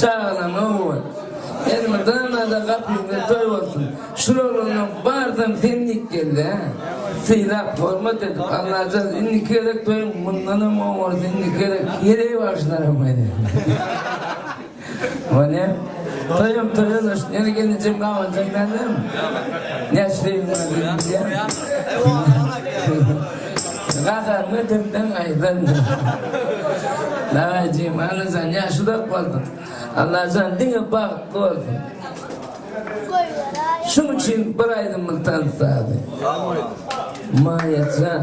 Çagana nobat. Elmydamada gapyňda toý bolsun. Şularyndan barsam sen dik geldi hä. Sylap hormat edip Allajan indiki gezek toýuň mundanam gowy bolsun indiki gezek heleý bagşylaram gaýdy. Bolýa. Toýam toý ulaş ýene gelinjem gabanjak dälem. Näçe toýuň bar bilýän. Gazalmy dilden aýdandy. Dagajem Allajan ýaşy dok bolsun. Allajan diňe bagtly bolsun. Şuň üçin bir aýdymyny tanytady. Maýajan.